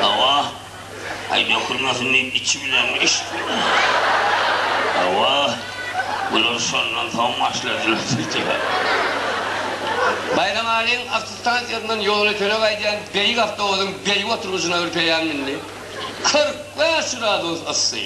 Hawa, aý dökülmesin diýip içi bilenmi içdiňmi? Hawa, bular şondan soň başladylar diýdiler. Baýramalyň awtostansiýasyndan ýolötene gaýdýan beýik awtobusyň beýik oturgyjyna ürpeýän mündi. Kyrk bäş gradus yssy.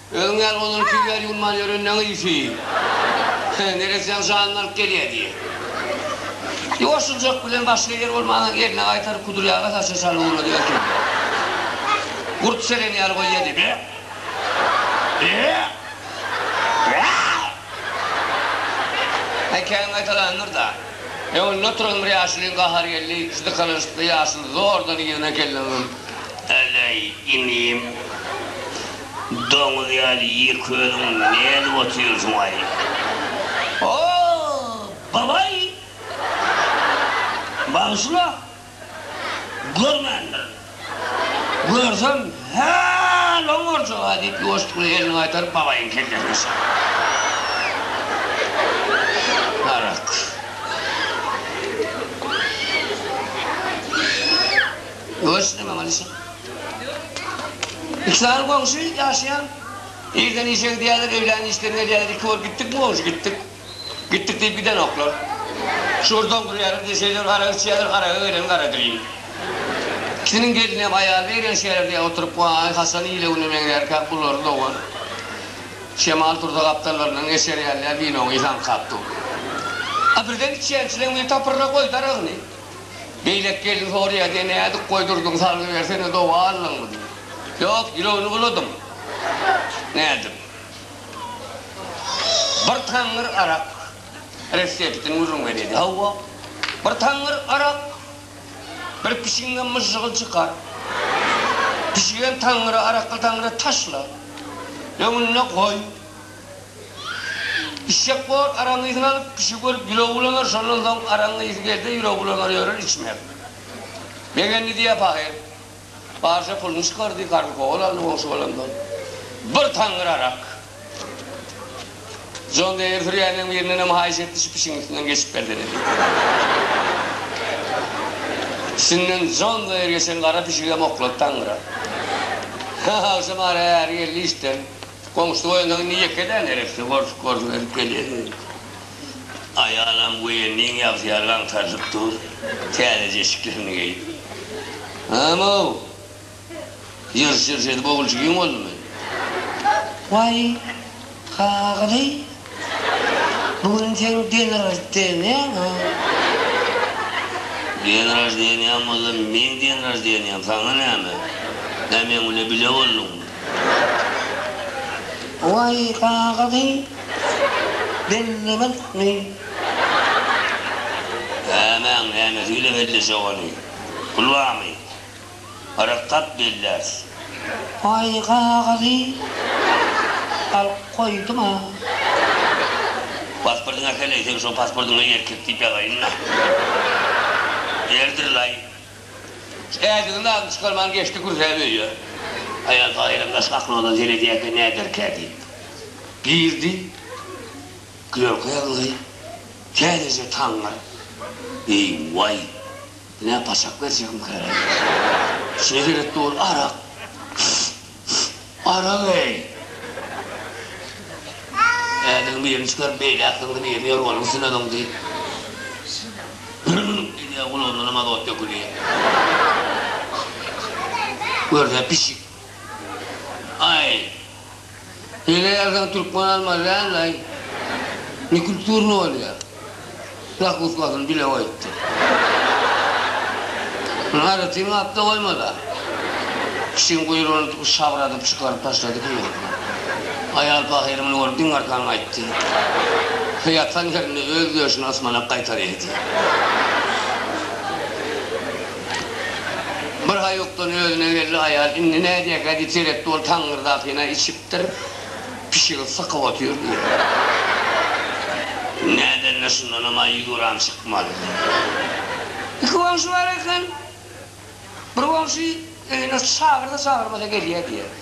Özüň ýaly olar iki ýer ýuwulman ýören näme ýüsi. Neressäň janyny alyp gelýä diýýä. Ýoşuljak bilen başga ýer bolmansoň eline gaýtaryp kudur ýaga saça çalyp ugrady erkek. Gurt seren ýaly goý ýedi. Be! Be! Be! Hekaýam gaýtalandyr-da. Öňünde oturan bir ýaşulyň gahary geldi. Şu dykalanyşykly ýaşuly zordan yzyna keldi onuň. Eleý, inim. Doňuz ýaly ýek özüň ne edip otyrsyňaý? O, babaý! Bagyşla! Görmändirin. Görsem, hä-l oň urjag-a, diýip, ýuwaşlykly elini gaýtaryp, babaýyň kellesine şapdy. Arak. Görsün-ä, maňa düşün. Iki sany goňşy ýaşaýan. Irden işe gidýärler, öýlän işden gelýärler, iki bolup gitdikmi goňşy, gitdik. Gitdik diýip gidenoklar. Şugur doňdurýarlar, deşeýler, arak içýärler, araga gelen garadirin. Ikisiniň gelini hem, aýaly eýrän şäherdä oturyp, waý, haçan ile güne meňzärkä bulary dogan. Şemal tursa gapdallaryndan geçer ýaly ýa winony haňkap dur. A birden içýänçileň biri tapyrra goýdy aragyny. Beýleki gelin soraýar, Sen nädip goýdurdyň, salgybersene, doga aldyňmy? diýip. Ýok, ýüregini buladym. Nädip? Bir taňňyr arak reseptini gürrüňe diýdi. Hawa, bir taňňyr arak bir pişigiňden myžžygy çykar. Pişigem taňňyry, arakly taňňyry taşla, öňünde goý. Işşek bor, araň yzyny alyp, kişi görüp ýüregi bulanar, şondan soň araň ysy gelse ýüregi bulanar ýörer, içmez. Begendi diýýär pahyr. Barja puluny çykardy, karz kowal aldy goňşy balandan. Bir taňňyr arak. Jon Deýr sürýänleň birindenem haýyş etdi, şu pişigiň üstünden geçip gelsene diýip. Üstünden Jon Deýr geçen gara pişigem oklady taňňyra. Agşam ara äri geldi işden. Goňşy goýunda indi ýekeläň gerekdi, gorşuk gorşuk edip gelýärdi. Aýalam woýenniň ýabysy ýaly aňtarylyp dur, täzeje eşiklerini geýip. Hany-ow! Ýyrş-ýyrş edip ogulçygiň boldumy? Waý, kagyz-eý! Bu gün seň den raždeniýaňy. Den raždeniýaň bolsa meň den raždeniýam saňa näme? Hä meň bile bile bolduňmy? Waý kakadyý bellemezmi? Hä maň nämesi bile belleşe ogany? Pul barmy? Gyraklap belläs. Aý gagazy alyp goýduň-a. Pasportyňy äkel-leý, seň şo pasportyňa erkek diýip ýazaýyn-la. Erdir-laý. Ädigini lazym çykarman geçdi kürsäp öýe. Aýal Taýyram daş gapkaladan seredýärkä näderkä diýip, girdi. Klerka ýazyldy. Täzeje taňňyr. Eý, waý! Nä paşak berjegim käledi. Şeýle gerek dur, arak. Arak-eý! Ädigini birini çykaryp, beýläkdigini birini ýorganyň üstüne doňdy. Bürrüňňüp diýdi-ä, gulagyndanam azot döküldi. Görde, pişik. Aý, Ýene ýerden türkmen almaly dälmi-aý? Nekulturny bolýa. Zakusgasyny bile goýupdyr. Muny aýratyn gapda goýmala. Pişigiň guýrugyny tutup şabradyp çykaryp taşlady kim bolsa. Aýal pahyr muny görüp diň arkan gaýtdy. He ýatan ýerinde öz döşüni ysmanak gaýtar ýedi. Bir haýukdan özüne geldi aýal, indi nädýä gadyp seretdi, ol taňňyrdakyny-a içipdir, pişigi sykyp otyr diýýä. Nädende şundanam-a ýüz gram çykmaly. Iki goňşy bar eken, bir goňşy öýüne çagyrsa-çagyrmasa gelýä diýýä.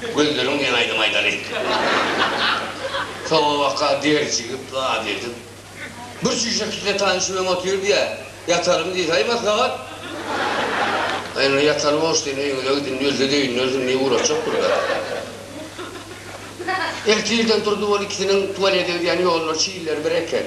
Güldüriň diýen aýdym aýdalyň. Sowabaka derjigip zat edip. Bir çüýşe kitle tanyş bilen otyr diýä. Ýatalyň diýse aý maslahat. Aý indi ýataly boş diýen öýüňize gidin diýilse döýündersin diýip ugraşjakdyr-da. Ertirden turdy ol ikisiniň tualete gidýän ýollary çilleri bir eken.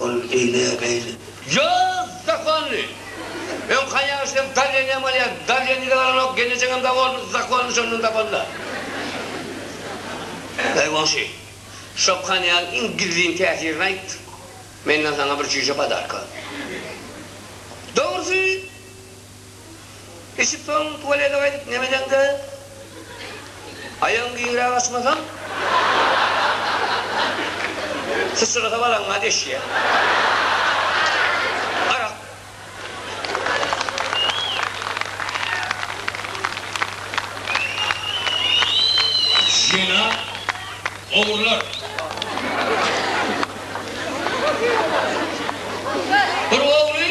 Ol ine beýle. Ýaz, zakonly! Öň haýaň şinem Darýanyňam alýan, Darýanyňy da alanok, gelnejeňem dag boldy, zakonly şondan tapanda. Eý, goňşy, Şokhan ýaly iň gizlin täsirini aýt, menden saňa bir çüýşe podarka. Dogrusy, Içip soň tualete gaýdyp nemeseňde aýagyň giňräk açmasaň syçrasa balaňa deşýä. Arak. Jenap ogurlar. Bir ogry.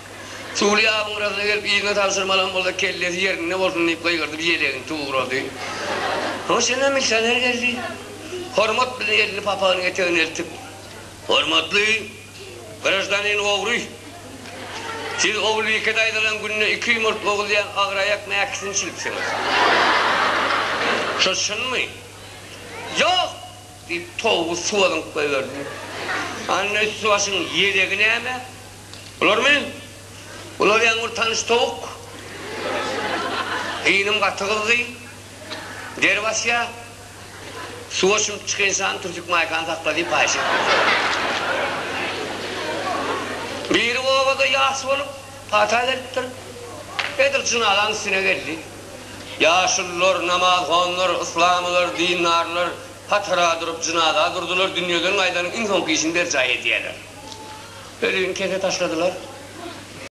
Çuly ýabyň gyrasynda gelip yzyna tabşyrmalam bolsa kellesi ýerinde bolsun diýip gygyrdyp ýelegini tugrady. Hoşuna milisioner geldi. Hormat bilen elini papagynyň etegine eltip. Hormatly graždanin ogry! Siz Ogulbike daýzalaň günde iki ýumurt oguzýan agyraýak mäkisini çilipsiňiz. Şo çynmy? Ýok! diýip towgy suwa zyňyp goýberdi. Anda üsti başyň ýelegi näme? Bularmy? Bular ýaňy bir tanyş towuk. Gynym gaty gyzdy. Der basýa. Suwa çümüp çykynsam Türsük maýkany sakla diýip haýyş etdim. Biri obada ýas bolup, pata beripdir. Edil jynazanyň üstüne geldi. Ýaşulular, namazhonlar, yslamylar, dindarlar. Hatara durup, jynaza durdular, dünýeden gaýdanyň iň soňky işini berjaý edýärler. Ölüni kese taşladylar.